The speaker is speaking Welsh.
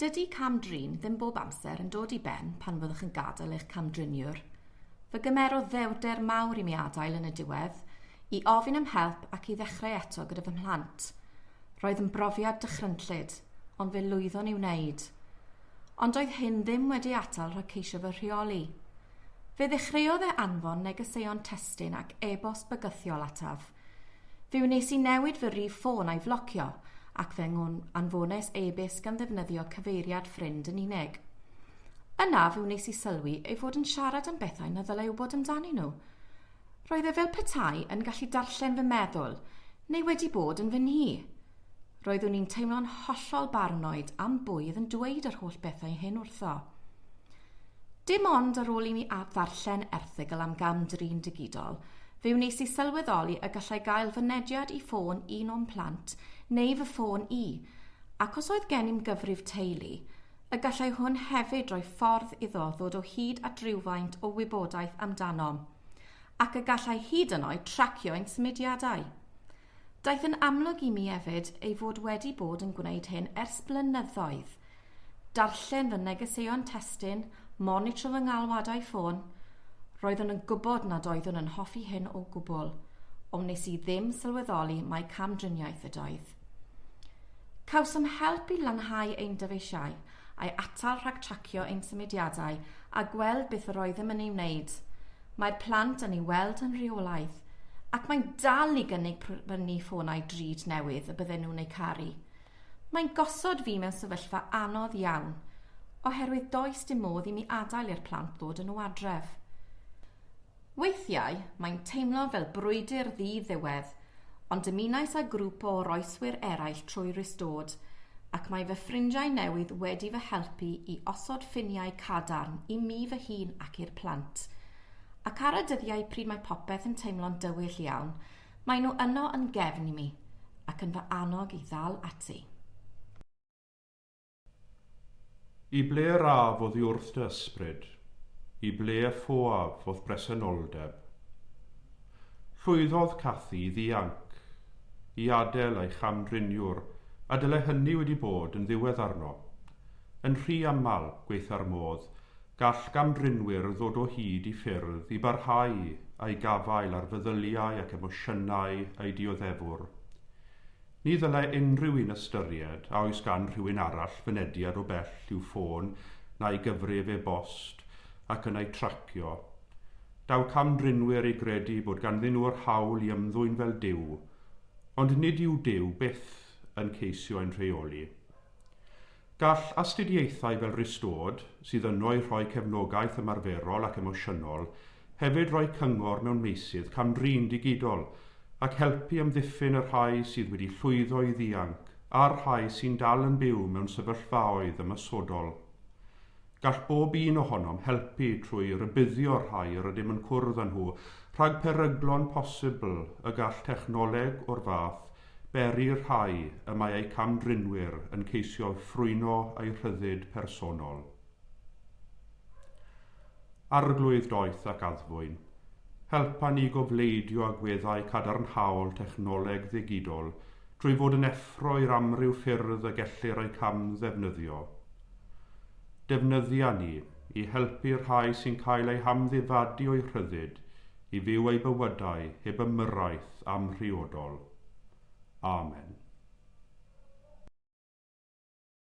Dydy cam-drin ddim bob amser yn dod i ben pan fyddwch yn gadael eich cam-driniwr. Fe gymerodd ddewrder mawr i mi adael yn y diwedd, i ofyn am help ac i ddechrau eto gyda fy mhlant. Roedd yn brofiad dychrynllyd, ond fe lwyddon i wneud. Ond doedd hyn ddim wedi atal rhag ceisio fy rheoli. Fe ddechreuodd e anfon negeseuon testun ac e-bost bygythiol ataf. Fe wnes i newid fy rif ffôn a'i flocio, ac fe anfones e-byst gan ddefnyddio cyfeiriad ffrind yn unig. Yna fe wnes i sylwi ei fod yn siarad am bethau na ddylai wybod amdanyn nhw. Roedd e fel petai yn gallu darllen fy meddwl, neu wedi bod yn fy nhŷ. Roeddwn i'n teimlo'n hollol barnoed am bwy oedd yn dweud yr holl bethau hyn wrtho. Dim ond ar ôl i mi ddarllen erthygl am gam-drin digidol, fe wnes i sylweddoli y gallai gael fy nediad i ffôn un o'n plant neu fy ffôn i, ac os oedd gennym gyfrif teulu, y gallai hwn hefyd roi ffordd iddo ddod o hyd at rywfaint o wybodaeth amdanom, ac y gallai hyd yn oed tracio ein symudiadau. Daeth yn amlwg i mi hefyd ei fod wedi bod yn gwneud hyn ers blynyddoedd. Darllen fy negeseuon testun, monitro fy ngalwadau ffôn, roeddwn yn gwybod nad oeddwn yn hoffi hyn o gwbl, ond wnes i ddim sylweddoli mai cam-driniaeth ydoedd. Cawsom help i lanhau ein dyfeisiau, a'i atal rhag tracio ein symudiadau a gweld beth yr oeddem yn ei wneud. Mae'r plant yn ei weld yn rheolaidd, ac mae'n dal i gynnig prynu ffonau drud newydd y bydden nhw'n eu caru. Mae'n gosod fi mewn sefyllfa anodd iawn, oherwydd does dim modd i mi adael i'r plant ddod yn nhw adref. Weithiau, mae'n teimlo fel brwydr ddi-ddiwedd, Ond dymunais â grŵp o oroeswyr eraill trwy Restored, ac mae fy ffrindiau newydd wedi fy helpu i osod ffiniau cadarn i mi fy hun ac i'r plant. Ac ar y dyddiau pryd mae popeth yn teimlo'n dywyll iawn, maen nhw yno yn gefn i mi, ac yn fy annog i ddal ati. I ble yr af oddi wrth dy ysbryd? I ble y ffoaf o'th bresenoldeb? Llwyddodd Cathy i ddianc, i adel ei cham-driniwr, a dyle hynny wedi bod yn ddiwedd arno. Yn rhy aml, gwaetha'r modd, gall gam-drinwyr ddod o hyd i ffyrdd i barhau â'i gafael ar feddyliau ac emosiynau ei dioddefwr. Ni ddylai unrhyw un ystyried a oes gan rhywun arall fynediad o bell i'w ffôn na'i gyfrif e-bost ac yna ei tracio. Daw cam-drinwyr i gredu bod ganddyn nhw yr hawl i ymddwyn fel Duw, ond nid yw Duw byth yn ceisio ein rheoli. Gall astudiaethau fel Restored, sydd yno i rhoi cefnogaeth ymarferol ac emosiynol, Hefyd rhoi cyngor mewn meysydd cam-drin digidol ac helpu amddiffyn y rhai sydd wedi llwyddo i ddianc a'r rhai sy'n dal yn byw mewn sefyllfaoedd ymosodol. Gall bob un ohonom helpu trwy rybuddio'r rhai yr ydym yn cwrdd â nhw rhag peryglon posibl y gall technoleg o'r fath beri i'r rhai y mae eu cam-drinwyr yn ceisio'u ffrwyno a'u rhyddid personol. Arglwydd Doeth ac Addfwyn, helpa ni gobleidio agweddau cadarnhaol technoleg ddigidol trwy fod yn effro i'r amryw ffyrdd y gellir eu hamddefnyddio. Defnyddia ni i helpu'r rhai sy'n cael eu hamddifadu o'u rhyddid i fyw eu bywydau heb ymyrraeth amhriodol. Amen.